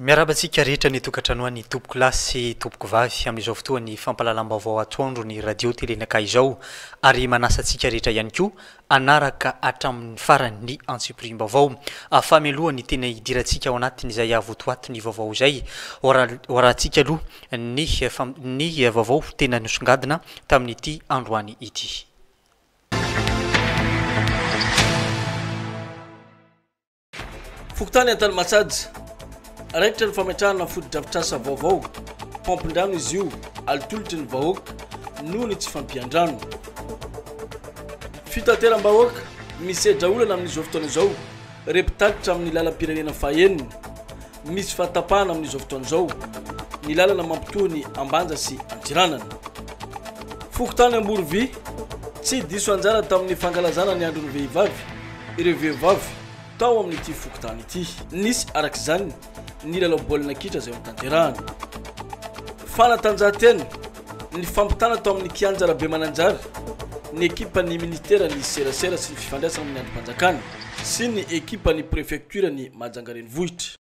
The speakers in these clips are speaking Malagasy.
Miarahaba antsika rehetra any an-tokantrano any tompoko lahy sy tompoko vavy amin'izao fotoan'ny fampahalalam-baovao atoandron'ny Radio Télé Naka izao ary manasa antsika rehetra ihany koa hanaraka hatramin'ny farany ny antsipiriam-baovao fameloha ny tena hidirantsika ao anatin'izay avotoato ny vaovao izay hoarahantsika aloha ny ny vaovao tena nosongadina tamin'ity androany ity. Fokontany Antanimatsaja, raikitra ny fametrahana fotodrafitrasa vaovao, paompin-drano izy io, alitolotry ny vahoaka noho ny tsy fampian-drano. Fitateram-bahoaka, misedra olana amin'izao fotoana izao ireo mpitatitra amin'ny lalam-pirenena fahenina, Misy fahatapahana amin'izao fotoana izao ny lalana mampitohy ny Ambanja sy Antsiranana. Fokontany Amborovi, Tsy diso anjara tamin'ny fankalazana ny andron'ny vehivavy ireo vehivavy tao amin'ity fokontany ity. Nisy araka izany ny lalao baolina kitra izay hotanterahana. Fanatanjahantena. Nifampitana tao amin'ny kianja Rabemananjary ny ekipan'ny minisiteran'ny Serasera sy ny fifandraisana amin'ny andrim-panjakana sy ny ekipan'ny prefektioran'i Mahajanga renivohitra.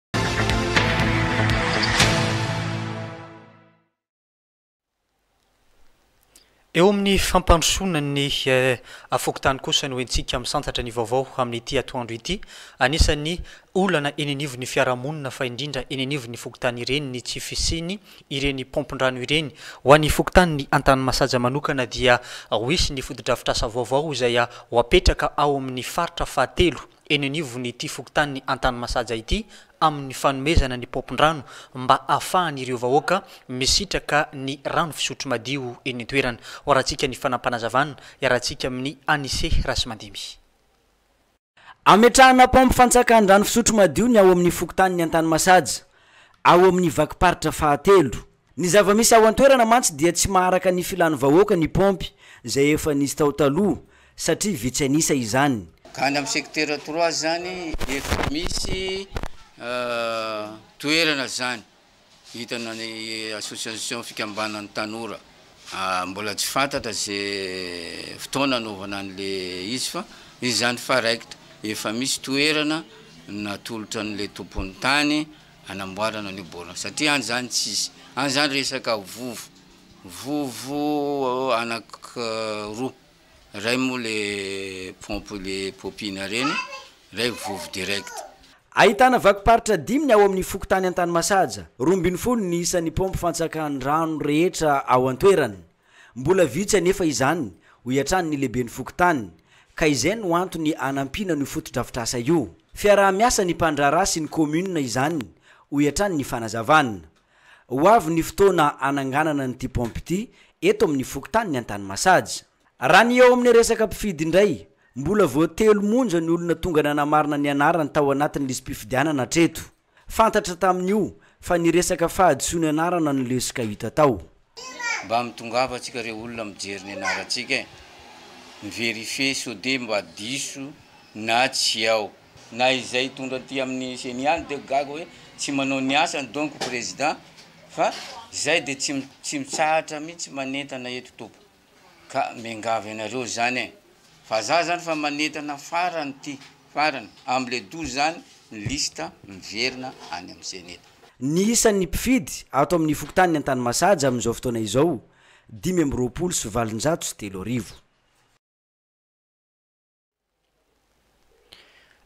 Eo amin'ny fampandrosoana ny fokontany kosa no entintsika misantatra ny vaovao amin'ity atoandro ity. Anisan'ny olana eny anivon'ny fiarahamonina fa indrindra eny anivon'ny fokontany ireny ny tsy fisian'ny ireny paompin-drano ireny. Ho an'ny fokontanin'ny Antanimasaja manokana dia ho hisy ny fotodrafitrasa vaovao izay ho hapetraka ao amin'ny faritra fahatelo eny anivon'ity fokontanin'ny Antanimasaja ity amin'ny fanomezana ny paompin-drano mba hahafahan'ireo vahoaka misitraka ny rano fisotro madio eny an-toerana. Hoarantsika ny fanampanazavan iarahantsika amin'ny Anise Rasimandimby. Ametrahana paompy fantsakan drano fisotro madio ny ao amin'ny fokontanin'i Antanimasaja, ao amin'ny vakim-paritra fahatelo. Ny zava-misy ao an-toerana mantsy dia tsy maharaka ny filan'ny vahoaka ny paompy izay efa nisy tao taloha satria vitsy an'isa izany. Ka any amin'ny secteur trois zany efa misy toerana zany. Vintana ny association fikambanan'ny tanora. Mbola tsy fantatra ze fotoana anaovana anle izy fa misy zany fa rect efa misy toerana natolotra anle tompon'ny tany hanamboarana an'io baolina satria any zany tsisy any zany resaka vovo vovo anaky roa. Ray moa le pompe le popiana reny ray vovo direct. Ahitana vakim-paritra dimy ny ao amin'ny fokontany Antanimasaja, roa ambin'ny folo ny isan'ny paompy fantsakan'ny rano rehetra ao an-toerana. Mbola vitsy anefa izany, hoy hatrany ny lehiben'ny fokontany, ka izay no antony hanampiana an'io fotodrafitrasa io. Fiaraha-miasan'ny mpandraharaha sy ny kaominina izany, hoy hatrany ny fanazavana. Ho avy ny fotoana hananganana an'ity paompy ity eto amin'ny fokontanin'i Antanimasaja. Raha ny eo amin'ny resaka mpifidy indray, mbola vao telo monja ny olona tonga nanamarina ny anarany tao anatin'ny lisi-pifidianana hatreto. Fantatra tamin'io fa ny resaka fahadisoan'ny anarana no lesoka hita tao. Mba mitongava tsika re olona mijery ny anarantsika e! Miverifier sao de mba diso na tsy ao. Na izay hitondra aty aminy ceni any de gaga hoe tsy manao ny asany donc président fa zay de tsy mitsahatra mitsy manentana eto tompoko. Ka miangavy anareo zany e! Fa za zany fa manentana farany ty farany amle douze zany ny liste miverina any am ceneda. Ny isan'ny mpifidy ato amin'ny fokontanin'i Antanimasaja amin'izao fotoana izao, dimy amby roapolo sy valonjato sy telo arivo.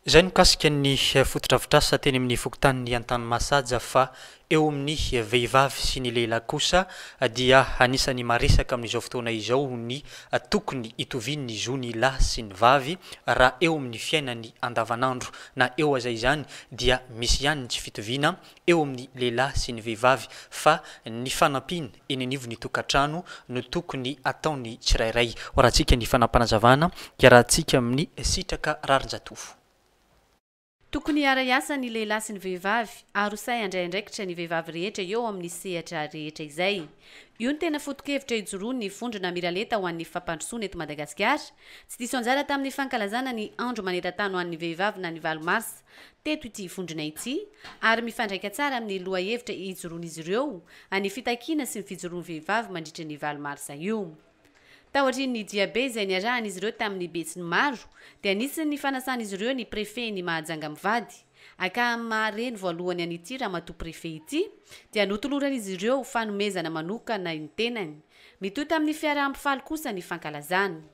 Izay no mikasika ny fotodrafitrasa teny amin'ny fokontanin'i Antanimasaja fa eo amin'ny vehivavy sy ny lehilahy kosa dia anisan'ny maresaka amin'izao fotoana izao ny tokony hitovian'ny zo ny lahy sy ny vavy raha eo amin'ny fiainany andavanandro na eo aza izany dia misy ihany ny tsy fitoviana eo amin'ny lehilahy sy ny vehivavy fa ny fanampiana eny anivon'ny tokantrano no tokony ataon'ny tsirairay. Hoarahantsika ny fanapanazavana hiarahantsika amin'ny Sitraka Rarinjatovo. Tokony hiara-hiasa ny lehilahy sy ny vehivavy ary ho sahy handray andraikitra ny vehivavy rehetra eo amin'ny sehatra rehetra izay. Io no tena foto-kevitra ijoroan'ny Vondrona Miralenta ho an'ny Fampandrosoana eto Madagasikara, tsy diso anjara tamin'ny fankalazana ny Andro maneran-tany ho an'ny Vehivavy na ny valo Mars teto ity vondrona ity ary mifandraika tsara amin'ny lohahevitra ijoroan'izy ireo any fitakiana sy ny fijoroan'ny vehivavy mandritra ny valo marsa io. Taorian'ny diabe izay niarahan'izy ireo tamin'ny besinimaro dia nisy ny fanasan'izy ireo ny prefen'i Mahajanga mivady akam maha reny voalohany an'ity ramatoa prefe ity dia notoloran'izy ireo fanomezana manokana ny tenany. Mitohy tamin'ny fiaraha-mifaly kosa ny fankalazana.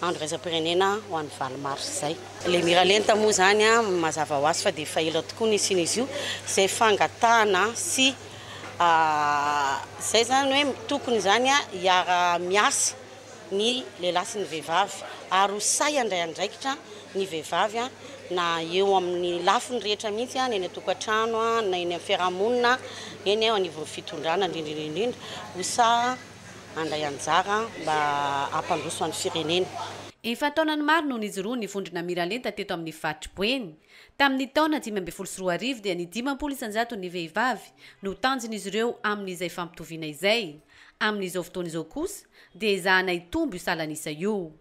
andro iraisam-pirenena ho an'ny valo marsa izay. Ilay miralenta moa izany mazava ho azy fa dia efa ela tokoa ny hisian'izy io, izay fangatahana sy izay izany hoe tokony izany hiara miasa ny lehilahy sy ny vehivavy ary ho sahy handray andraikitra ny vehivavy na eo amin'ny lafiny rehetra mihitsy, na eny an-tokantrano, na eny amin'ny fiarahamonina, eny eo anivon'ny fitondrana indrindra indrindra, ho sahy. handray anjara mba hampandroso an'ny firenena. Efa an-taonany maro no nijoroan'ny vondrona Miralenta teto amin'ny faritry Boeny. Tamin'ny taona dimy ambin'ny folo sy roa arivo dia ny dimampolo isan-jaton'ny vehivavy no tanjon'izy ireo amin'izay fampitoviana izay. Amin'izao fotoana izao kosa dia ezahana hitombo io salan'isa io.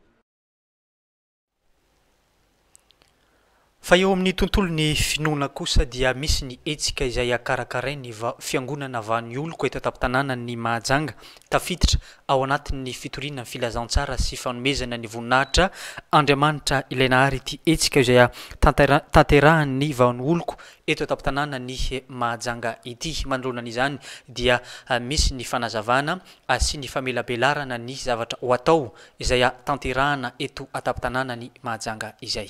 Fa eo amin'ny tontolon'ny finoana kosa dia misy ny hetsika izay hakarakarain'ny Fiangonana vahan'ny oloko eto an-tampon-tanànan'i Mahajanga, tafiditra ao anatin'ny fitoriana Filazantsara sy fanomezana ny voninahitra Andriamanitra Ilay Nahary ity hetsika izay hatanterahan'ny vahan'ny oloko eto an-tampon-tanànan'i Mahajanga ity. Manoloana an'izany dia misy ny fanazavana sy ny famelabelarana ny zavatra ho atao izay hahatanterahana eto an-tampon-tanàna ny Mahajanga izay.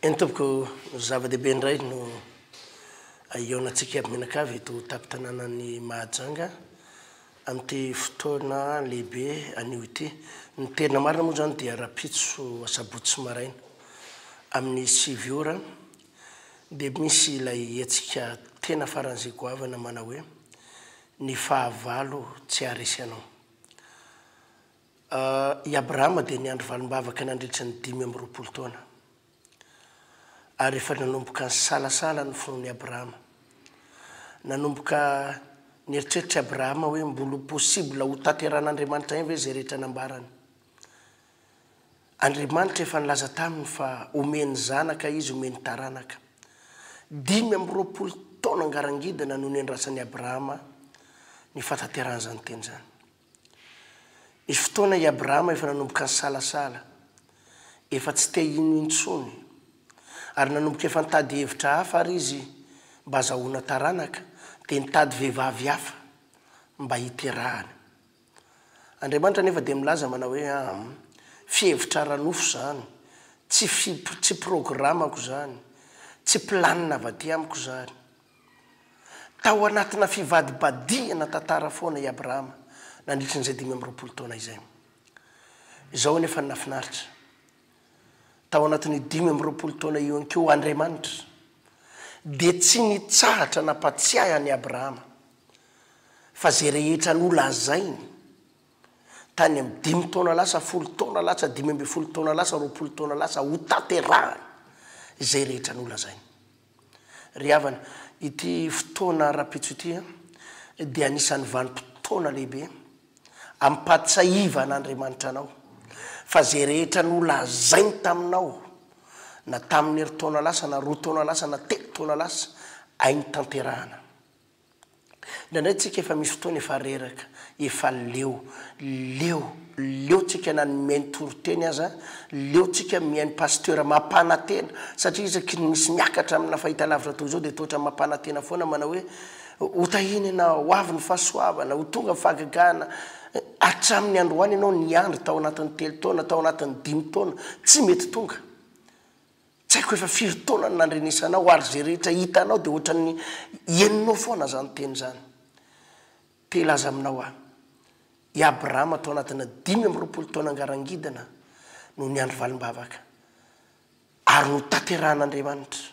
Eny tompoko, zava-dehibe indray no ahiaonantsika mianakavy eto an-tampon-tanànan'i Mahajanga amin'ity fotoana lehibe anio ity. Ny tena marina moa izany dia rahampitso asabotsy maraina amin'ny sivy ora dia misy ilay hetsika tena faran'izay goavana manao hoe Ny fahavalo tsy haharesy anao. I Abrahama dia niandry valim-bavaka nandritra ny dimy amby roapolo taona. Ary efa nanomboka nisalasala ny fon'i Abrahama. Nanomboka nieritreritra i Abrahama hoe mbola possible hotanterahan'Andriamanitra ihany ve izay rehetra nambarany. Andriamanitra efa nilaza taminy fa homeny zanaka Izy, homeny taranaka. Dimy amby roapolo taona ngarangidina no niandrasan'i Abrahama ny fahatanterahan'izany teny izany. Nisy fotoana i Abrahama efa nanomboka nisalasala, efa tsy te hino intsony, ary nanomboka efa nitady hevitra hafa àry izy mba hazahoana taranaka, dia nitady vehivavy hafa mba hiterahany. Andriamanitra anefa dia milaza manao hoe, Ahm. Fihevitra ara-nofo izany. Tsy fi, tsy programako izany. Tsy planina avy aty amiko izany. Tao anatina fivadibadihana tantara foana i Abrahama nandritry an'izay dimy amby roapolo taona izay. Izao anefa ny nahafinaritra. tao anatin'io dimy amby roapolo taona io ihany koa Andriamanitra, dia tsy nitsahatra nampatsiahy an'i Abrahama fa izay rehetra nolazainy tany amin'ny dimy taona lasa, folo taona lasa, dimy ambin'ny folo taona lasa, roapolo taona lasa, hotanterahany izay rehetra nolazainy. Ry havana, ity fotoana rahampitso ity dia anisan'ny vanim-potoana lehibe ampahatsiahivan'Andriamanitra anao fa izay rehetra nolazainy taminao na tamin'ny herintaona lasa na roa taona lasa na telo taona lasa, hainy tanterahana. Indraindray tsika efa misy fotoana efa reraka, efa leo, leo, leo tsika na ny mihaino toriteny aza, leo tsika mihaino pasteur mampanatena, satria isaky ny misy miakatra amina fahitalavitra toy izao dia toatra mampanatena foana manao hoe ho tahina ianao, ho avy ny fahasoavana, ho tonga ny fahagagana, hatramin'ny androany ianao niandry tao anatin'ny telo taona, tao anatin'ny dimy taona, tsy mety tonga. Tsy haiko efa firy taona no nandrenesana aho ary izay rehetra hitanao dia ohatran'ny henonao foana izany teny izany. Te hilaza aminao aho, i Abrahama tao anatina dimy amby roapolo taona ngarangidina no niandry valim-bavaka ary notanterahan'Andriamanitra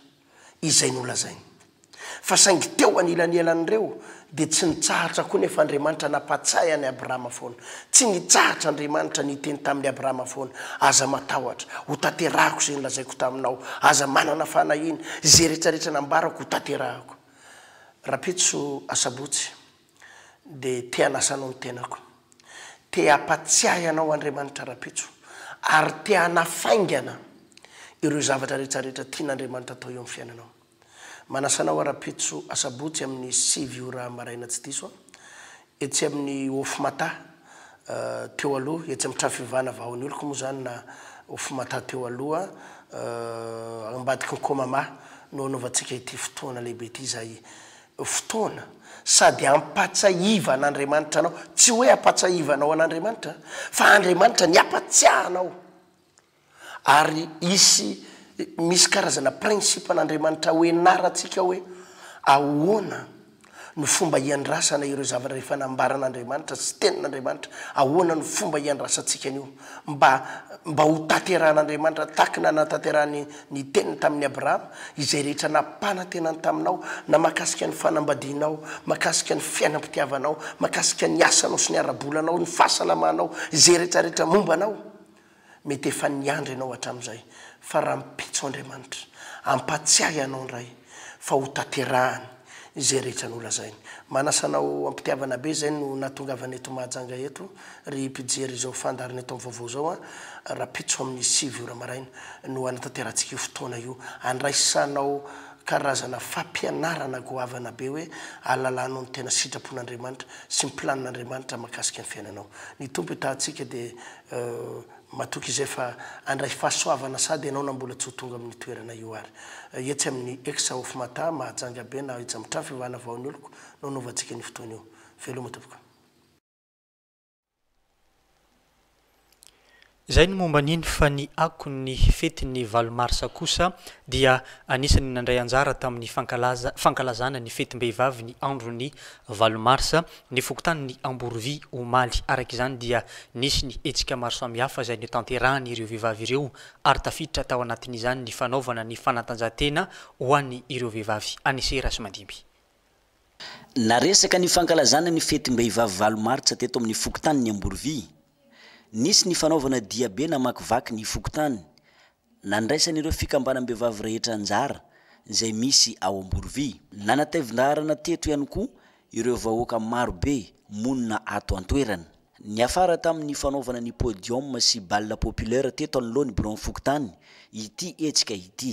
izay nolazainy. Fa saingy teo anilanelan'ireo, dia tsy nitsahatra koa nefa Andriamanitra nampahatsiahy an'i Abrahama foana. Tsy nitsahatra Andriamanitra niteny tamin'i Abrahama foana, Aza matahotra, hotanterahako izay nolazaiko taminao. Aza manana fanahiana. Izay rehetra rehetra nambarako, hotanterahako. Rahampitso, asabotsy, dia te hanasa anao ny tenako. Te hampatsiahy anao Andriamanitra rahampitso, ary te hanafaingana ireo zavatra rehetra rehetra tian'Andriamanitra atao eo amin'ny fiainanao. Manasa anao ara-pitso asabotsy amin'ny sivy ora maraina tsy diso aho, etsy amin'ny Hof-Mata teo aloha, etsy amin'ny trano fivavahana Vahaon'ny Oloko moa izany na Hof-Mata teo aloha, ambadiky ny Komama no hanaovantsika ity fotoana lehibe ity izay fotoana sady hampatsahivana Andriamanitra anao, tsy hoe hampatsahivanao an'Andriamanitra fa Andriamanitra ny hampatsiahy anao. Ary hisy, misy karazana principe an'Andriamanitra hoenarantsika hoe ahoana no fomba hiandrasana ireo zavatra efa nambaran'Andriamanitra sy Tenin'Andriamanitra, ahoana no fomba hiandrasantsika an'io mba mba hotanterahan'Andriamanitra tahaka ny nanatanterahany ny Teniny tamin'i Abrahama izay rehetra nampanantenany taminao na mahakasika ny fanambadianao, mahakasika ny fiainam-pitiavanao, mahakasika ny asanao sy ny ara-bolanao, ny fahasalamanao, izay rehetra rehetra momba anao. Mety efa niandry ianao hatramin'izay, fa rahampitso Andriamanitra hampatsiahy anao indray fa hotanterahany izay rehetra nolazainy. Manasa anao am-pitiavana be izay no nahatongavana eto Mahajanga eto, ry mpijery izao fandaharana eto amin'ny vaovao izao a! Rahampitso amin'ny sivy ora maraina no hanatanterantsika io fotoana io handraisanao karazana fampianarana goavana be hoe ahalalànao ny tena sitrapon'Andriamanitra sy ny planina Andriamanitra mahakasika ny fiainanao. Ny Tompo hitahantsika dia Matoky izay fa handray fahasoavana sady ianao na mbola tsy ho tonga amin'ny toerana io ary. Etsy amin'ny ex of Mata, Mahajanga be na aiza amin'ny trano fivavahana vaon'ny oloko no hanaovantsika an'io fotoana io. Veloma tompoko. Izay ny momba an'iny fa ny akon'ny fetin'ny valo marsa kosa dia anisan'ny nandray anjara tamin'ny fankalazana ny fetim-behivavy ny andron'ny Valo marsa, ny fokontanin'i Amborovy, omaly. Araka izany dia nisy ny hetsika maro samihafa izay notanterahan'ireo vehivavy ireo ary tafiditra tao anatin'izany ny fanaovana ny fanatanjahantena ho an'ny ireo vehivavy any Sera sy Mandimby. Naresaka ny fankalazana ny fetim-behivavy valo martsa teto amin'ny fokontanin'i Amborovy. Nisy ny fanaovana diabe namakivaky ny fokontany Nandraisan'ireo fikambanam-behivavy rehetra anjara izay misy ao Amborovy. Nanatevin-daharana teto ihany koa ireo vahoaka marobe monina ato an-toerana. Niafara tamin'ny fanaovana ny podium sy bal populaire teto anoloan'ny biraon'ny fokontany ity hetsika ity.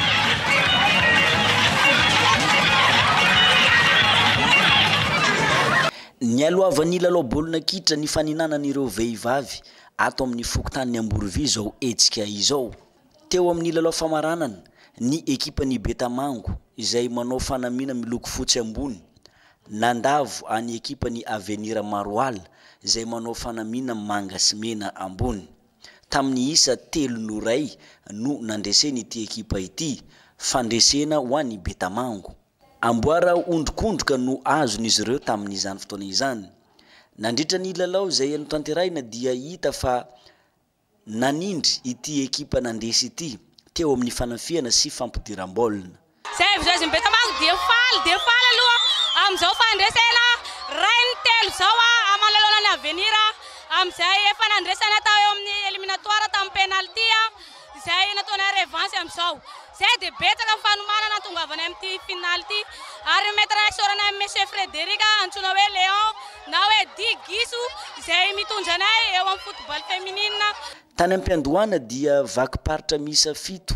Nialohavan'ny lalao baolina kitra nifaninanan'ireo vehivavy ato amin'ny fokontanin'i Amborovy izao hetsika izao. Teo amin'ny lalao famaranana, ny ekipan'i Betamango, izay manao fanamiana miloko fotsy ambony, nandavo an'ny ekipan'ny Avenir Maroala, izay manao fanamiana manga sy mena ambony. Tamin'ny isa telo noray no nandresen'ity ekipa ity fandresena ho an'i Betamango. Amboara ondrikondroka no azon'izy ireo tamin'izany fotoana izany. Nandritra ny lalao izay notanterahina dia hita fa nanindry ity ekipa nandresy ity teo amin'ny fanafihana sy fampidiram-baolina. Izay avy izao izy mipetra amako dia faly dia faly aloha amin'izao fandresena rainy telo izao aho manoloana ny Avenir amin'izay efa nandresana tao eo amin'ny eliminatoires tamin'ny penalty izay nataonay revanche amin'izao. Izay dia betsaka ny fanomanana hahatongavanay amin'ity finale ity ary ny maître isaoranay an'i Monsieur Frédéric antsoina hoe Léon na hoe Di Giso izay mitondra anay eo amin'ny football féminine. Tany Ampiandohana dia vakim-paritra miisa fito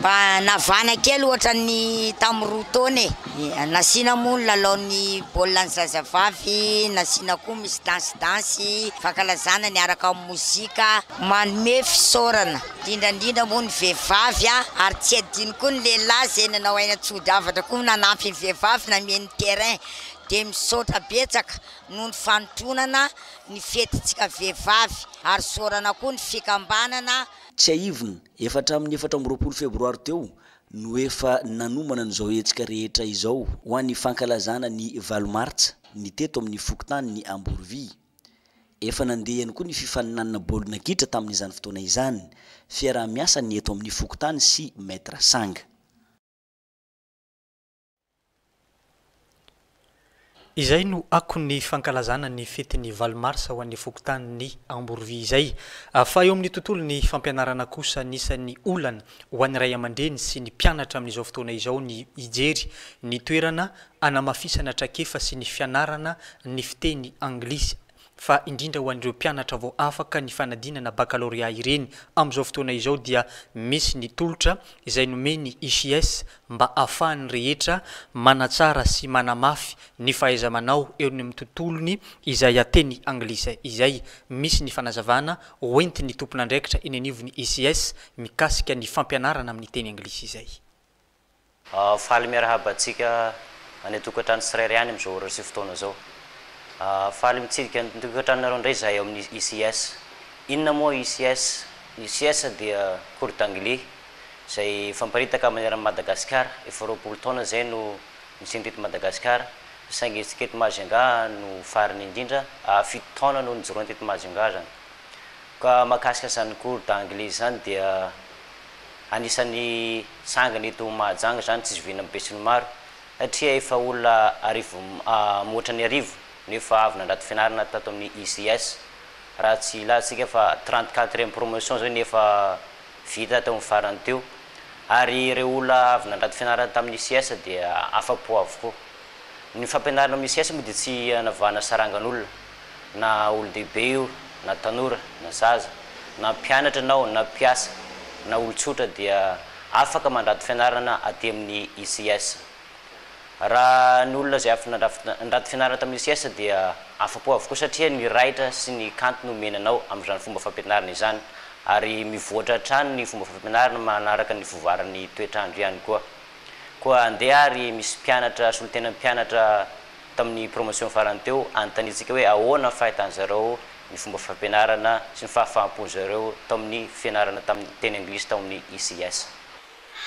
Mba navana kely ohatran'ny tamin'ny roa taona e. Nasiana moa ny lalaon'ny baolina ny zazavavy, nasiana koa misy dansy dansy, fankalazana niaraka amin'ny mozika. Manome fisaorana indrindra indrindra moa ny vehivavy ary tsy adino koa ny lehilahy izay nanao aina tsy hody havatra koa nanampy ny vehivavy nanome ny terrain. Dia misaotra betsaka noho ny fanotronana ny fetintsika vehivavy ary isaorana koa ny fikambanana. Tsiahivina Efa hatramin'ny efatra amby roapolo febroary teo no efa nanomana an'izao hetsika rehetra izao ho an'ny fankalazana ny valo martsa ny teto amin'ny fokontanin'i Amborovy. Efa nandeha ihany koa ny fifaninanana baolina kitra tamin'izany fotoana izany, fiaraha-miasan'ny eto amin'ny fokontany sy Maître Sanga. Izay no akon'ny fankalazana ny fetin'ny valo marsa ho an'ny fokontanin'i Amborovy izay. Fa eo amin'ny tontolon'ny fampianarana kosa, anisan'ny olana ho an'ny ray aman-dreny sy ny mpianatra amin'izao fotoana izao ny hijery ny toerana hanamafisana traikefa sy ny fianarana ny fiteny anglisy. fa indrindra ho an'ireo mpianatra vao afaka ny fanadinana bakalorea ireny amin'izao fotoana izao dia misy ny tolotra izay nomen'ny ICS mba ahafahan'ny rehetra manatsara sy manamafy ny fahaiza-manao eo amin'ny tontolony izay teny anglisy izay, misy ny fanazavana hoentin'ny tompon'andraikitra eny anivon'ny ICS mikasika ny fampianarana amin'ny teny anglisy izay. Faly miarahaba antsika any an-tokantrano tsirairay any amin'izao ora sy fotoana izao. Faly mitsidika ny tokantranonareo indray izahay ao amin'ny ICS. Inona moa ICS? Ny ICS dia cours d'anglais izay famparitaka maneran'i Madagasikara. Efa roapolo taona izay no nisiany teto Madagasikara, saingy isika eto Majunga no farany indrindra, fito taona no nijoroany teto Majunga izany. Ka mahakasika izany cours d'anglais izany dia. anisan'ny tsangany eto Mahajanga izany tsy zoviana amin'ny besinimaro satria efa olona arivo mihoatra ny arivo no efa avy nandrato fianarana tato amin'ny ICS. Raha tsy ilatsika fa trente quatrième promotion izao no efa vita teo amin'ny farany teo ary ireo olona avy nandrato fianarana tamin'ny ICS dia afa-po avokoa. Ny fampianarana amin'ny ICS moa dia tsy hanavahana sarangan'olona. Na olon-dehibe io, na tanora, na zaza, na mpianatra ianao, na mpiasa, na olon-tsotra dia afaka mandrato fianarana aty amin'ny ICS. Raha ny olona izay avy nandrato fianarana tamin'ny ICS dia afa-po avokoa satria ny raitra sy ny kanto no omena anao amin'izany fomba fampianarana izany ary mivoatra hatrany ny fomba fampianarana manaraka ny fivoaran'ny toetr'andro ihany koa. Koa andeha ary misy mpianatra solontenan'ny mpianatra Tamin'ny promotion farany teo, anontaniantsika hoe ahoana ny fahitan'ny zareo ny fomba fampianarana sy ny fahafahampon'ny zareo tao amin'ny fianarana tamin'ny teny anglisy tao amin'ny ICS.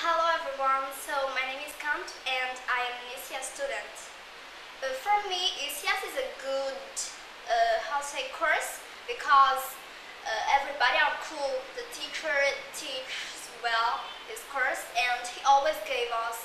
Hello everyone, so my name is Kanto and I am an ICS student. For me ICS is a good how to say course because everybody are cool, the teacher teaches well his course and he always gave us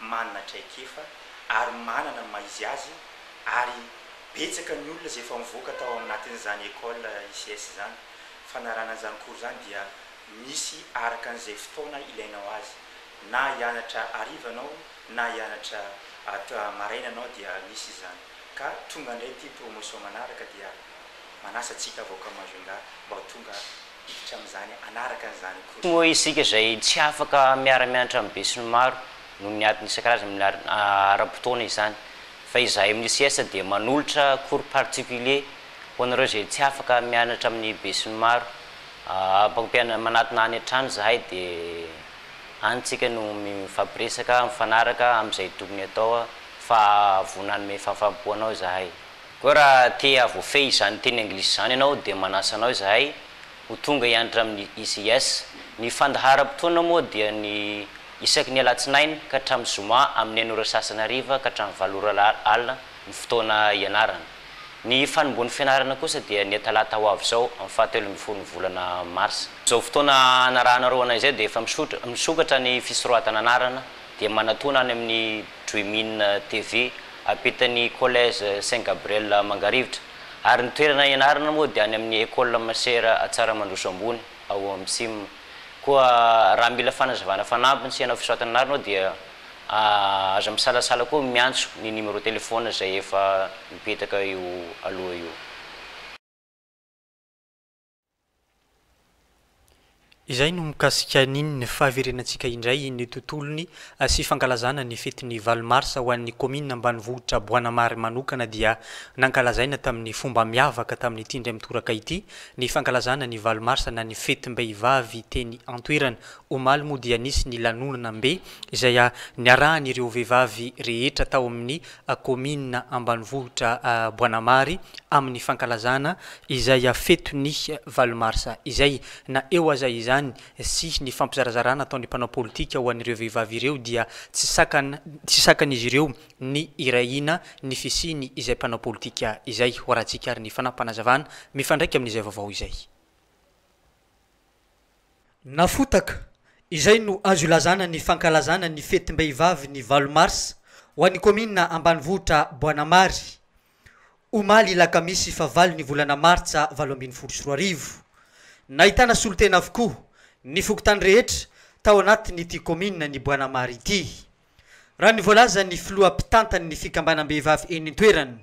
manana traikefa ary manana ny maha izy azy ary betsaka ny olona izay efa nivoaka tao aminatin'izany école ICS izany, fanarahana an'izany cours izany dia misy araka an'izay fotoana ilainao azy, na hianatra hariva ianao na hianatra maraina ianao dia misy izany ka tonga indray ity promotion manaraka dia manasa antsika avoaka Majunga mba ho tonga hiditra amin'izany hanaraka an'izany koa. Tsy moa isika izay tsy afaka miara-mianatra amin'ny besinimaro noho ny antony isan-karazany milar ara-potoana izany, fa izahay amin'ny ICS dia manolotra cours particulier ho anareo izay tsy afaka mianatra amin'ny besinimaro. Mpampiana manatona any an-trano izahay dia any isika no mifampiresaka, mifanaraka amin'izay tokony atao fa vao nanome fahafahampo anao izahay. Koa raha te havoafehy izany teny anglisy izany ianao dia manasa anao izahay ho tonga hiantra amin'ny ICS. Ny fandaharam-potoana moa dia ny isaky ny alatsinainy ka hatramin'ny zoma amin'ny enina ora sasany hariva ka hatramin'ny valo ora alina ny fotoana hianarana. Ny fanombohan'ny fianarana kosa dia ny talata ho avy izao amin'ny fahatelo ambin'ny folon'ny volana marsa. Izao fotoana hanarahanareo anay izay dia efa misokatra ny fisoratana anarana dia manatona any amin'ny. Dreamin TV, ampitan'ny Collège Saint Gabriel Mangarivotra, ary ny toerana ianarana moa dia any amin'ny Ecole Masera Antsaramandroso Ambony, ao Msim. Koa raha mila fanazavana fanampiny sy hanao fisoratana anarana ao dia aza misalasala koa miantso ny numéro téléphone izay efa mipetaka eo aloha io. Izay no mikasika an'iny fahaverenantsika indray iny tontolony sy fankalazana ny fetin'ny valo marsa ho an'ny kaominina ambanivohitra Boanamary manokana dia nankalazaina tamin'ny fomba miavaka tamin'ity indray mitoraka ity ny fankalazana ny valo marsa na ny fetim-behivavy teny an-toerana. Omaly moa dia nisy ny lanonana mbe izay niarahan'ireo vehivavy rehetra tao amin'ny kaominina ambanivohitra Boanamary amin'ny fankalazana izay feto ny valo marsa izay. Na eo aza izany sy ny fampizarazarana ataon'ny mpanao politika ho an'ireo vehivavy ireo dia tsy sakana tsy sakan'izy ireo ny hirahina ny fisiany izay mpanao politika izay hoarahantsika ary ny fanapanazavana mifandraika amin'izay vaovao izay. Nafotaka, izay no azo ilazana ny fankalazana ny fetim-behivavy ny valo marsa ho an'ny kaominina ambanivohitra Boanamary, omaly lakamisy fahavalo ny volana martsa valo ambin'ny folo sy roa arivo. Nahitana solontena avokoa ny fokontany rehetra tao anatin'ity kaominina ny Boanamary ity, raha ny voalazan'ny filoha mpitantan'ny fikambanam-behivavy eny an-toerana,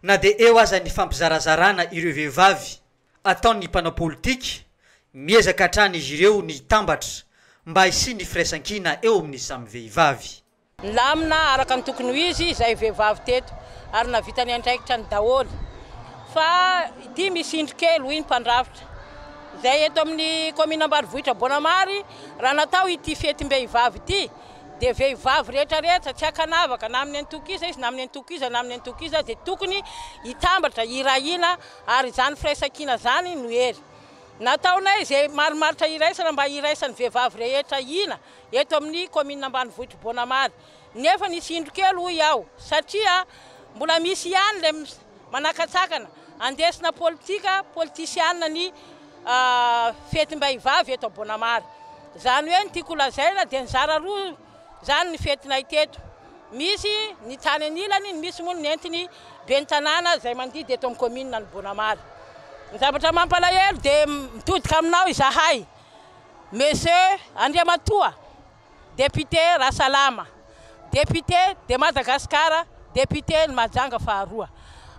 na dia eo aza ny fampizarazarana ireo vehivavy. ataon'ny mpanao politika, miezaka hatrany izy ireo ny hitambatra mba hisian'ny firaisankina eo amin'ny samy vehivavy. Nilamina araka ny tokony ho izy izay vehivavy teto ary nahavita ny andraikitrany daholo. Fa ity misy indro kely, hoy ny mpandrafitra, izay eto amin'ny kaominina ambanivohitra Boanamary, raha natao ity fetim-behivavy ity dia vehivavy rehetra rehetra, tsy ankanavaka, na amin'ny antoko iza izy, na amin'ny antoko iza, na amin'ny antoko iza, dia tokony hitambatra, hirahina Ary izany firaisankina izany no hery nataonay izay marimaritra iraisana mba hiraisan'ny vehivavy rehetra hina eto amin'ny kaominina ambanivohitr'i Bonamary. Nefa nisy indro kely hoy aho satria mbola misy ihany ilay manakatsakana handesina politika politisiana ny fetim-behivavy eto Bonamary. Izany hoe ny tiako holazaina dia nizara roa Izany ny fetinay teto. Misy ny tany anilany, ny misy moa ny nentin'ny ben'ny tanàna izay mandidy eto amin'ny kaominina Anobonamary. Ny zavatra mampalahelo dia mitodika aminao izahay, Monsieur Andriamatoa Député Rasalama, Député de Madagascar, Député-n'i Mahajanga faharoa.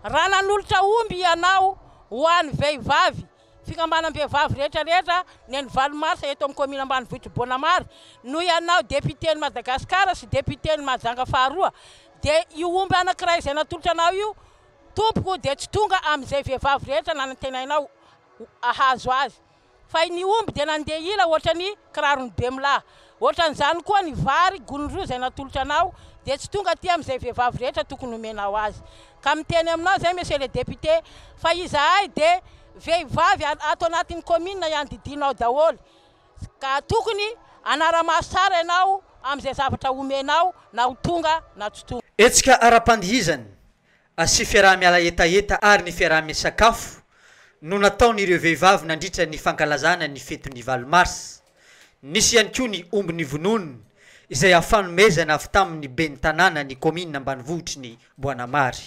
Raha nanolotra omby ianao ho an'ny vehivavy, Fikambanam-behivavy rehetra rehetra ny an'i valo marsa eto amin'ny kaomina ambanivohitr'i Boanamary no ianao depiten'i Madagasikara sy depiten'i Mahajanga faharoa dia io omby anankiray izay natolotra anao io tompoko dia tsy tonga amin'izay vehivavy rehetra nanantenainao hahazo azy fa ny omby dia nandeha ila ohatran'ny kiraron'i Bemilahy. Ohatran'izany koa ny vary gony roa izay natolotra anao dia tsy tonga aty amin'izay vehivavy rehetra tokony homenao azy. Ka miteny aminao izay Monsieur le Député fa izahay dia vehivavy ato anatin'ny commune ihany didianao daholo ka tokony hanara-maso tsara ianao amin'izay zavatra homenao na ho tonga na tsy tonga. Hetsika ara-pandihizana sy fiaraha-miala hetaheta ary ny fiaraha-misakafo no nataon'ireo vehivavy nandritra ny fankalazana ny fety ny valo mars. Nisy ihany koa ny omby nivonoiny izay afanomezana avy tamin'ny ben'ny tanàna ny kaominina ambanivohitry ny Boanamary.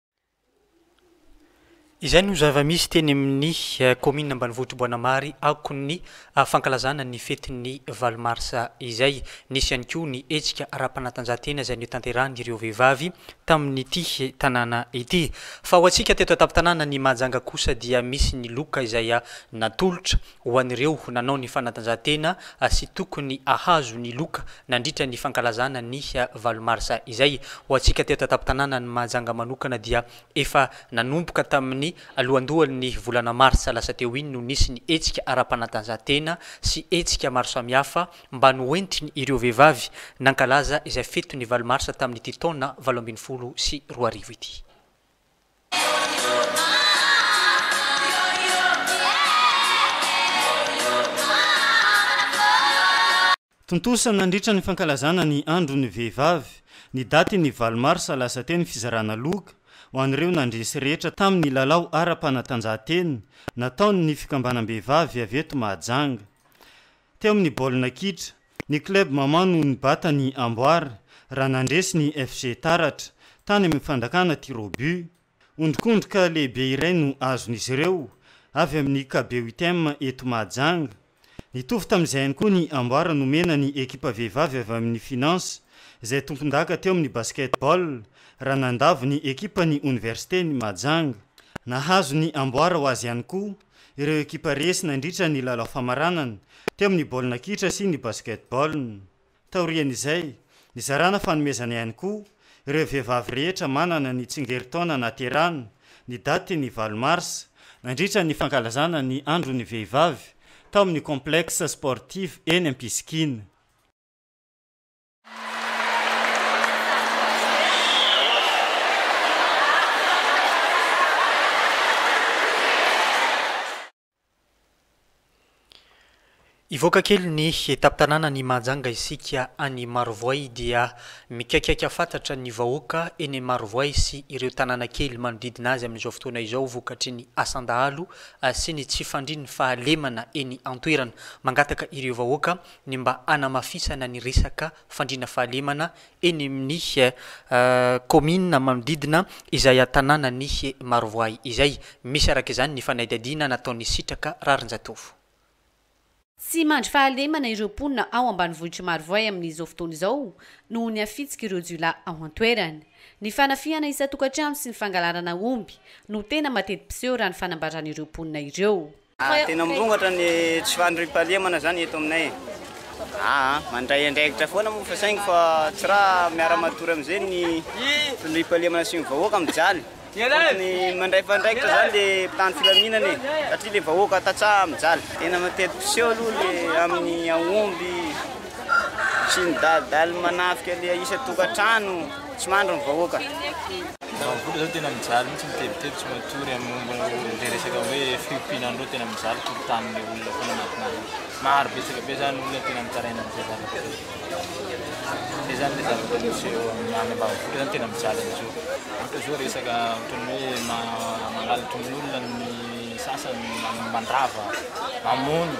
Izay no zava-misy teny amin'ny kaominina ambanivohitr'i Boanamary akon'ny fankalazana ny fetin'ny valo marsa izay. Nisy ihany koa ny hetsika ara-panatanjahantena izay notanterahin'ireo vehivavy tamin'ity tanàna ity. Fa ho antsika teto an-tampon-tanàna ny Mahajanga kosa dia misy ny loka izay natolotra Ho an'ireo nanao ny fanatanjahantena sy tokony hahazo ny loka nandritra ny fankalazana ny valo marsa izay. Ho antsika teto an-tampon-tanànan'i Mahajanga manokana dia efa nanomboka tamin'ny alohandohan'ny volana marsa lasa teo iny no nisy ny hetsika ara-panatanjahantena sy hetsika maro samihafa mba noentiny ireo vehivavy nankalaza izay fetin'ny valo marsa tamin'ity taona valo ambin'ny folo sy roa arivo ity. Tontosa nandritra ny fankalazana ny andron'ny vehivavy, ny datin'ny valo marsa lasa teo ny fizarana loka ho an'ireo nandresy rehetra tamin'ny lalao ara-panatanjahantena nataon'ny fikambanam-behivavy avy eto Mahajanga. Teo amin'ny baolina kitra, ny club Maman no nibata ny amboara raha nandresy ny FG Taratra tany amin'ny fandakana tir au but. Ondrikondrika lehibe iray no azon'izy ireo avy amin'ny KBUTM eto Mahajanga. Nitovy tamin'izay ihany koa ny amboara nomena ny ekipa vehivavy avy amin'ny Finance izay tompondaka teo amin'ny basket-ball raha nandavo ny ekipan'ny Oniversiten'i Mahajanga. Nahazo ny amboara ho azy ihany koa ireo ekipa resy nandritra ny lalao famaranana teo amin'ny baolina kitra sy ny basketball. Taorian'izay, nizarana fanomezana ihany koa ireo vehivavy rehetra manana ny tsingerin-taona nahaterahana ny daty ny valo marsa, nandritra ny fankalazana ny andron'ny vehivavy tao amin'ny complexe sportif eny Ampisikina. Hivoaka kely ny tampon-tanàna ny Mahajanga isika any Marovoay dia mikaikaika fatratra ny vahoaka eny Marovoay sy ireo tanàna kely manodidina azy amin'izao fotoana izao vokatry ny asan-dahalo sy ny tsy fandrin'ny fahalemana eny an-toerana. Mangataka ireo vahoaka ny mba hanamafisana ny resaka fandriana fahalemana eny amin'ny kaominina manodidina izay tanànan'i Marovoay izay. Misy araka izany ny fanadihadiana nataon'i Sitraka Rarinjatovo. Tsy mandry fahalemana ireo mponina ao ambanivohitr'i Marovoay amin'izao fotoana izao noho ny hafitsik'ireo jiolahy ao an-toerana. Ny fanafihana isan-tokantrano sy ny fangalarana omby no tena mateti-piseho raha ny fanambaran'ireo mponina ireo. Tena mirongatra ny tsy fandriampahalemana zany eto aminay e! Aa! Mandray andraikitra foana moa fa saingy fa tsy ra miara matory amizay ny fandriampahalemana sy ny vahoaka mijaly! Tokony mandray fandraikitra zany le mpitandro filaminana e! Satria le vahoaka tantsaha mijaly! Tena matety mpiseho aloha le aminy aomby sy ny dalidaly manafika le isan-tokantrano! Tsy mandry ny vahoaka. Vavolombelona zao tena mijaly mihitsy mitebiteby tsy matory am momba le resaka hoe fiompiana an'ireo tena mijaly tokontany le olona foana anatin'azy ao. Maro betsaka be zany olona tena mitaraina an'izay zavatra zay. Zay zany le zavatra misy eo amin'ny any ambanivohitra zany tena mijaly am'zao. Ohatra zao resaka ohatran'ny hoe ma- mangalatra ny olona ny sasany mandrava, mamono.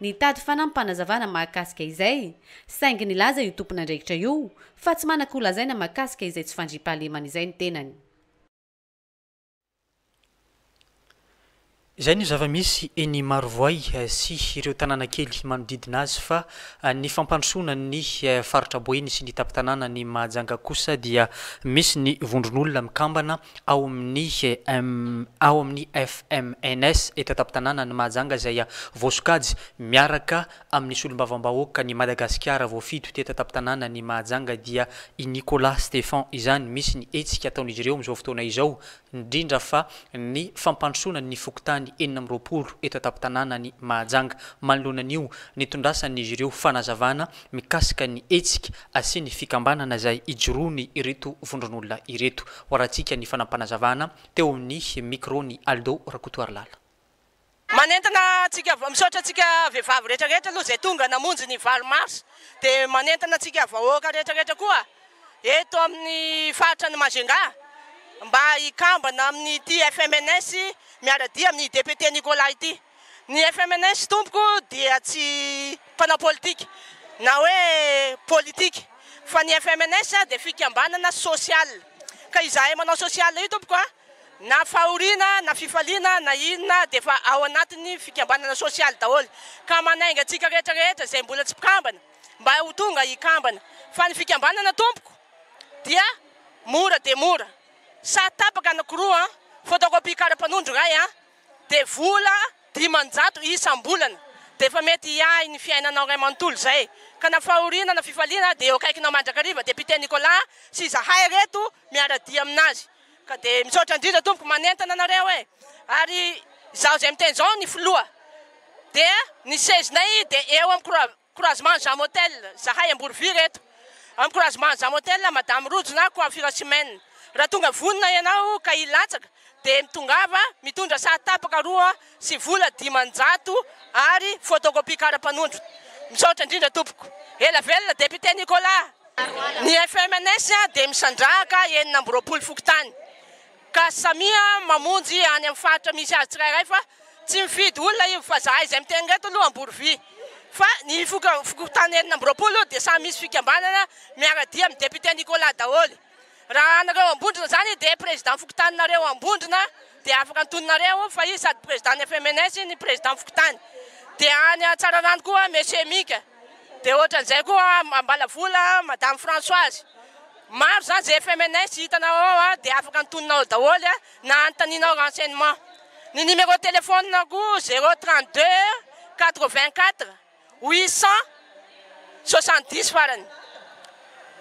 Nitady fanampim-panazavana mahakasika izay, saingy nilaza io tompon'andraikitra io fa tsy manako lazaina mahakasika izay tsy fandriampahalemana izay ny tenany. Izay no zava-misy eny Marovoay sy ireo tanàna kely manodidina azy fa ny fampandrosoana ny faritra Boeny sy ny tampon-tanànan'i Mahajanga kosa dia misy ny vondron'olona mikambana ao amin'ny ao amin'ny FMNS eto an-tampon-tanànan'i Mahajanga izay voasokajy miaraka amin'ny solombavambahoakan'i Madagasikara voafidy ho teto an-tampon-tanànan'i Mahajanga dia i Nicolas Stephan izany. Misy ny hetsika ataon'izy ireo amin'izao fotoana izao indrindra fa ny fampandrosoana ny fokontany enina amby roapolo eto an-tampon-tanànan'i Mahajanga. Manoloana an'io, nitondrasan'izy ireo fanazavana. mikasika ny hetsika sy ny fikambanana izay ijoroany ireto vondron'olona ireto. Hoarahantsika ny fanampanazavana teo amin'ny micro-n'i Aldo Rakotoarilala. Manentana antsika, misaotra antsika vehivavy rehetra rehetra aloha izay tonga namonjy ny valo mars, dia manentana antsika vahoaka rehetra rehetra koa eto amin'ny faritra ny Majunga mba hikambana amin'ity FMNS miara-dia amin'ny député Nicolas ity. Ny FMNS tompoko dia tsy mpanao politika na hoe politika fa ny FMNS dia fikambanana social ka izahay manao social io tompoko a na fahoriana na fifaliana na inona dia efa ao anatin'ny fikambanana social daholo ka manainga antsika rehetra rehetra izay mbola tsy mpikambana mba ho tonga hikambana fa ny fikambanana tompoko dia mora dia mora sa tapaka anankiroa an photocopie kara mpanondro iray an Dia vola dimanjato isam-bolana dia efa mety hiahy ny fiainanao iray manontolo izay. Ka na fahoriana na fifaliana dia eo akaikinao mandrakariva dia Pite Nicolas sy izahay reto miara-dia aminazy. Ka dia misaotra indrindra tompoko manentana anareo e. Ary izaho izay miteny izao ny filoha dia ny sezinay dia eo am-koroa-. Encouragement Zam Hotel zahay Amboroviry eto Encouragement Zam Hotel Madame Rojo na Coiffure Chimène raha tonga vonona ianao ka hilatsaka dia mitongava mitondra saha tapaka roa sy vola dimanjato Ary photocopie karapanondro Misaotra indrindra tompoko Ela velona Député Nicolas Ny FMNS dia misandrahaka enina amby roapolo fokontany Ka samia mamonjy any amin'ny faritra misy azy tsirairay fa tsy mifidy olona io fa zahay izay miteny ireto aloha Amborovy fa ny fokontany enina amby roapolo dia samy misy fikambanana miara-dia amin'ny député Nicolas daholo raha anareo Ambondrona izany dia président fokontaninareo Ambondrona dia afaka antononareo fa izy sady président ny FMNS ny président fokontany dia any Tsararano koa Monsieur Mika Dia ohatran'izay koa Ambalavola, Madame Françoise. Maro izany izay FMNS hitanao ao dia afaka antoninao daholo na anontanianao renseignement. Ny numéro de téléphone-ko, zéro trente deux quatre vingt quatre huit cent soixante dix farany,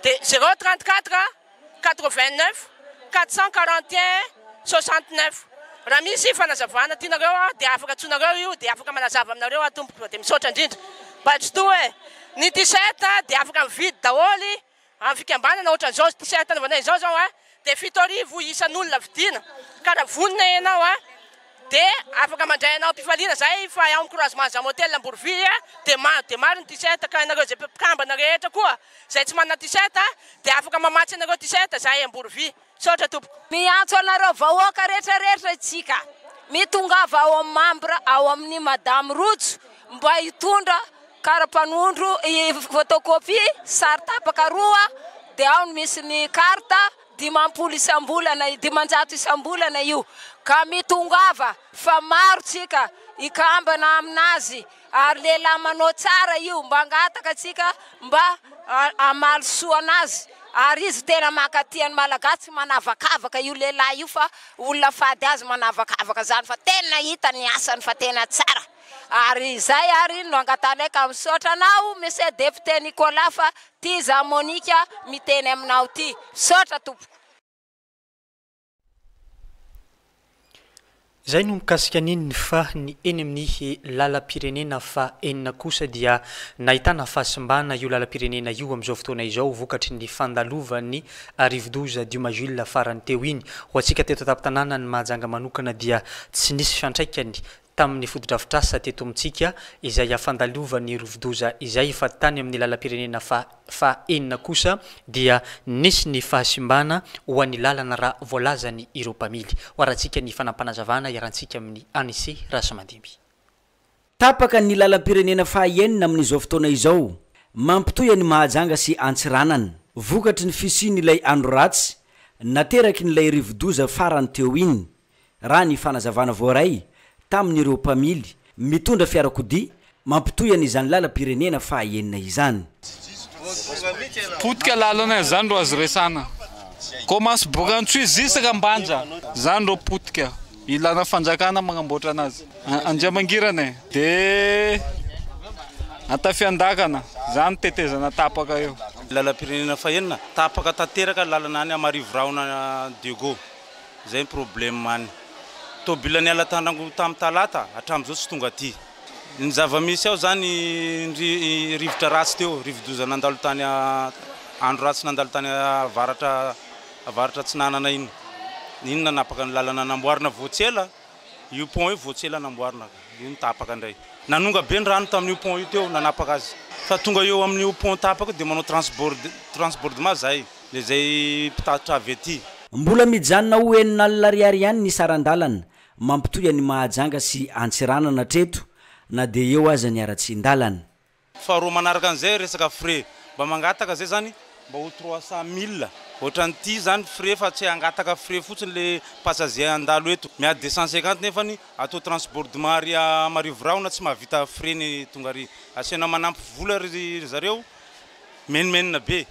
dia zéro trente quatre. 89 441 69 Raha misy fanazavana tianareo aho dia afaka antsoinareo io dia afaka manazava aminareo aho tompoko dia misaotra indrindra Bajtoa e! Ny t-shirt dia afaka mividy daholo amin'ny fikambanana ohatran'izao t-shirt anaovanay izao izao dia fito arivo isan'olona vidiana ka raha vonona ianao a! Dia afaka mandray anao am-pifaliana izahay fa ao Encouragement Zam Hotel Amborovia dia maro dia maro ny t-shirt ka ianareo izay mpikambana rehetra koa izay tsy manana t-shirt dia afaka mamatsy anareo t-shirt izahay Amborovia. Misaotra tompoko. Miantso anareo vahoaka retraretra itsika mitongava ao amin'ny membre ao amin'ny Madame Rojo mba hitondra karapanondro, photocopie, sary tapaka roa dia ao no misy ny carte. dimampolo isam-bolana, dimanjato isam-bolana io ka mitongava fa maro tsika hikambana aminazy ary lehilahy manao tsara io mba angataka tsika mba hamaly soa anazy ary izy tena mankatia ny malagasy tsy manavakavaka io lehilahy io fa olona fady azy manavakavaka zany fa tena hita ny asany fa tena tsara ary izay ary no angatahnay ka misaotra anao monsieur député Nicolas fa Ty za Monica miteny aminao ty. Misaotra tompoko. Izay no mikasika ny eniny fa ny eny amin'ny lalam-pirenena faha enina kosa dia nahitana fahasimbana io lalam-pirenena io amin'izao fotoana izao vokatry ny fandalovan'ny rivodoza Duma Jules farany teo iny. Ho antsika teto an-tampon-tanànan'i Mahajanga manokana dia tsy nisy fiantraikany tamin'ny fotodrafitrasa teto amintsika izay hafandalovan'ny rovidoza izay fa tany amin'ny lalam-pirenena faha faha enina kosa dia nisy ny fahasimbana ho an'ny lalana raha voalazany ireo mpamily. Hoarantsika ny fanampanazavana iharantsika amin'ny Anise Rasimandimby. Tapaka ny lalam-pirenena faha enina amin'izao fotoana izao mampitohy an'i Mahajanga sy Antsiranana, vokatry ny fisian'ilay andro ratsy naterakin'ilay rivodoza farany teo iny. raha ny fanazavana voaray tamin'ireo mpamily mitondra fiarakodia mampitohy an'izany lalam-pirenena fahaenina izany. Potika lalana izany ro azo resana. Commence Borantsoy jusque Ambanja zany ro potika ilana fanjakana magnamboatra anazy. Andriamangirana e! De Antafiandakana zany tetezana tapaka eo. Lalam-pirenena fahenina tapaka tanteraka lalana any Marivorahona Diego. Zay ny problème an. Tôbila niala Tandrangovo tam talata hatramzao tsy tonga aty. Ny zavamisy ao zany ndry rivotra ratsy teo, rivodoza nandalo tany andro ratsy nandalo tany avaratra avaratra atsinanana iny. Iny nanapaka ny lalana namboarina vao tsy ela. Io pont io vao tsy ela namboarina ka io no tapaka indray. Nanonga be ny rano tamin'io pont io teo nanapaka azy. Fa tonga eo amin'io pont tapaka io dia manao transbord transbordement zahay le izay mpitatitra avy aty. Mbola mijanona ho enina alina ariary ihany ny saran-dalana mampitohy an'i Mahajanga sy Antsiranana hatreto na dia eo aza ny haratsian-dalana. Faharoa manaraka an'izay resaka frais, mba mangataka zay zany mba ho trois cent mille ohatran'ity zany frais fa tsy hangataka frais fotsiny le passager handalo eto miady deux cent cinquante nefany atao transbordement ary marivo rahona tsy mahavita frais ny tonga ary asiana manampy vola ry zareo menomenona be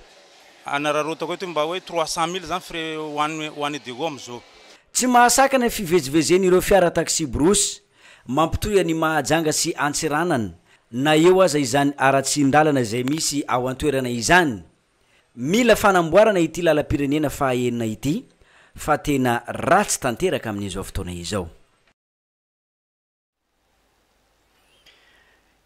hanararaotako eto mba hoe trois cent mille zany frais ho any ho any Degoma zao. Tsy mahasakana ny fivezivezen'ireo fiara taxi-brousse. Mampitohy an'i Mahajanga sy Antsiranana, na eo aza izany haratsian-dalana izay misy ao an-toerana izany. Mila fanamboarana ity lalam-pirenena faha enina ity fa tena ratsy tanteraka amin'izao fotoana izao.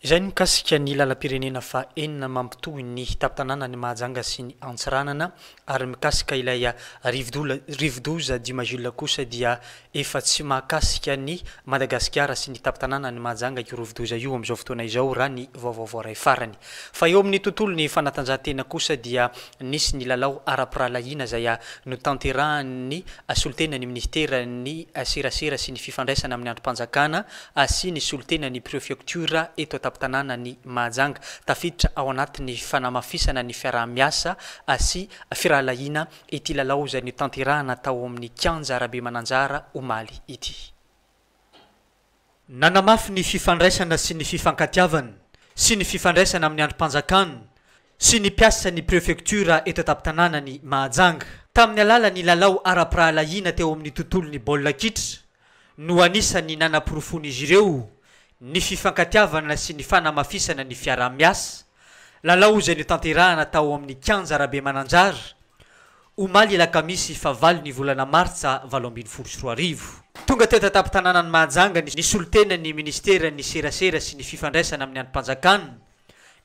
Izay no mikasika ny lalam-pirenena faha enina mampitohy ny tampon-tanànan'i Mahajanga sy ny Antsiranana ary mikasika ilay rivodola rivodoza Dimajila kosa dia efa tsy mahakasika an'i Madagasikara sy ny tampon-tanànan'i Mahajanga io rivodoza io amin'izao fotoana izao raha ny vaovao voaray farany. Fa eo amin'ny tontolon'ny fanatanjahantena kosa dia nisy ny lalao ara-pirahalahiana izay notanterahan'ny solontenan'ny minisiteran'ny serasera sy ny fifandraisana amin'ny andrim-panjakana Asia ny solontena ny prefioktiora eto an-tampon-tanànan'i Mahajanga. Tafiditra ao anatin'ny fanamafisana ny fiaraha-miasa sy firahalahiana ity lalao izay notanterahina tao amin'ny kianja Rabe Mananjara omaly ity. Nanamafy ny fifandraisana sy ny fifankatiavana sy ny fifandraisana amin'ny andrim-panjakana sy ny mpiasan'ny prefektiora eto an-tampon-tanànan'i Mahajanga. Tamin'ny alalan'ny lalao ara-pirahalahiana teo amin'ny tontolon'ny baolina kitra no anisan'ny nanaporofoan'izy ireo ny fifankatiavana sy ny fanamafisana ny fiaraha-miasa, lalao izay notanterahana tao amin'ny kianja Rabemananjara, omaly alakamisy fahavalo ny volana martsa valo ambin'ny folo sy roa arivo. Tonga teto an-tampon-tanànan'i Mahajanga ny solontenan'ny minisiteran'ny serasera sy ny fifandraisana amin'ny andrim-panjakana,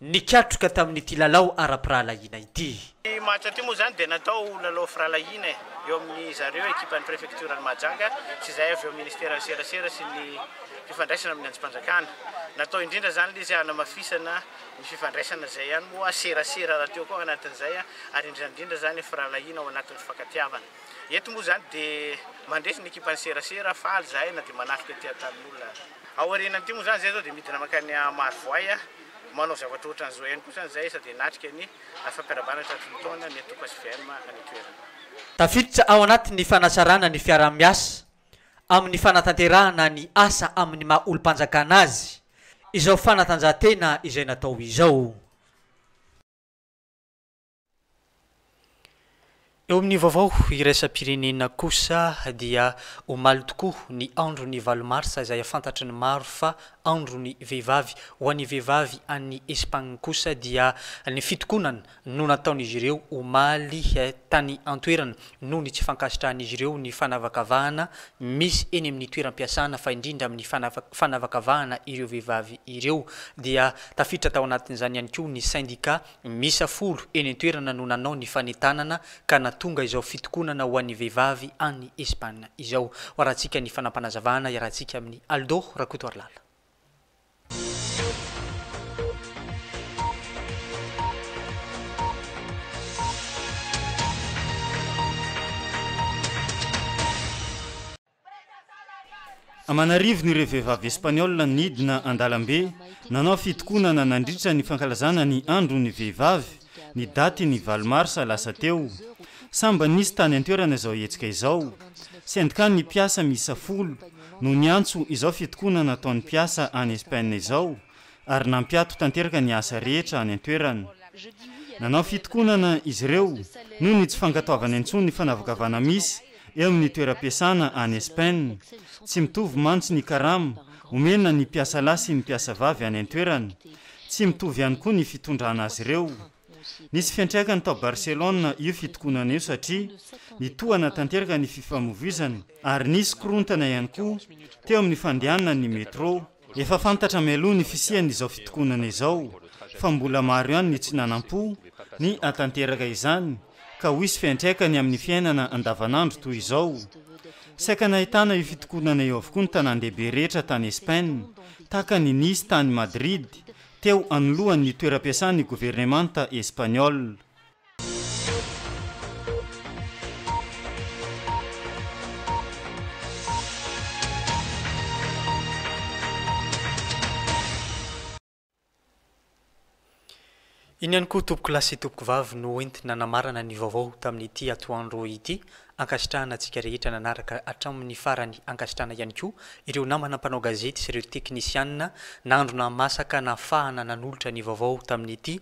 nikatroka tamin'ity lalao ara-pirahalahiana ity. Ity match ity moa izany dia natao ho lalao firahalahiana eo amin'ny zareo ekipan'ny prefektioran'i Mahajanga sy izay avy eo ministeran'ny serasera sy ny fifandraisana amin'ny anjom-panjakana. Natao indrindra izany ilay izy hanamafisana ny fifandraisana izay ihany moa serasera raha teo koa anatin'izay ary indrindra indrindra izany firahalahiana ao anatin'ny fifankatiavana. Eto moa izany dia mandresy ny ekipan'ny serasera, faly izahay na dia manatrika ety Antanin'olona aza. Aorianan'ity moa izany, izay izao dia midina mankany Marovoay, manao zavatra ohatran'izao ihany kosa ny zaesa dia hanatrika ny fampirahabana tratry ny taona ny antoko hvm any an-toerana. Tafiditra ao anatin'ny fanatsarana ny fiaraha-miasa amin'ny fanatanterahana ny asa amin'ny maha olom-panjakana azy izao fanatanjahantena izay natao izao. Eo amin'ny vaovao iraisam-pirenena kosa dia omaly tokoa ny andron'ny valo marsa izay fantatry ny maro fa andron'ny vehivavy. Ho an'ny vehivavy any Espagne kosa dia ny fitokonana no nataon'izy ireo omaly tany an-toerana noho ny tsy fankasitrahan'izy ireo ny fanavakavahana misy eny amin'ny toeram-piasana fa indrindra amin'ny fanavakavahana ireo vehivavy ireo dia tafiditra tao anatin'izany ihany koa ny sendika Miisa folo eny an-toerana no nanao ny fanentanana ka nahatonga izao fitokonana ho an'ny vehivavy any Espagne izao. Hoarahantsika ny fanampanazavana iarahantsika amin'i Aldo Rakotoarilala. Aman'arivony ireo vehivavy Espaniola nidina an-dalambe nanao fitokonana nandritra ny fankalazana ny andron'ny vehivavy ny datin'ny valo marsa lasa teo. Samy mba nisy tany an-toerana izao hetsika izao. Sendikan'ny mpiasa miisa folo no niantso izao fitokonana ataon'ny mpiasa any Espaina izao. ary nampiato tanteraka ny asa rehetra any an-toerana. Nanao fitokonana izy ireo noho ny tsy fankatoavana intsony ny fanavakavana misy eo amin'ny toeram-piasana any Espaina. Tsy mitovy mantsy ny karama omena ny mpiasa lahy sy ny mpiasa vavy any an-toerana. Tsy mitovy ihany koa ny fitondrana azy ireo. Nisy fiantraikany tao Barcelona io fitokonana io satria nitohana tanteraka ny fifamoivoizana ary nisy korontana ihany koa teo amin'ny fandehanan'ny métro. Efa fantatra mialoha ny fisian'izao fitokonana izao fa mbola maro ihany ny tsy nanam-po ny hatanteraka izany ka ho hisy fiantraikany amin'ny fiainana andavanandro toy izao. Saika nahitana io fitokonana io avokoa ny tanàn-dehibe rehetra tany Espaina, tahaka an'i Nice tany Madrid, teo anoloan'ny toeram-piasan'ny governemanta Espaniola. Iny ihany koa tompokolahy sy tompokovavy no entina namarana ny vaovao tamin'ity atoandro ity. Ankasitrahana antsika rehetra nanaraka hatramin'ny farany, ankasitrahana ihany koa ireo namana mpanao gazety sy ireo teknisianina nandro nahamasaka nahafahana nanolotra ny vaovao tamin'ity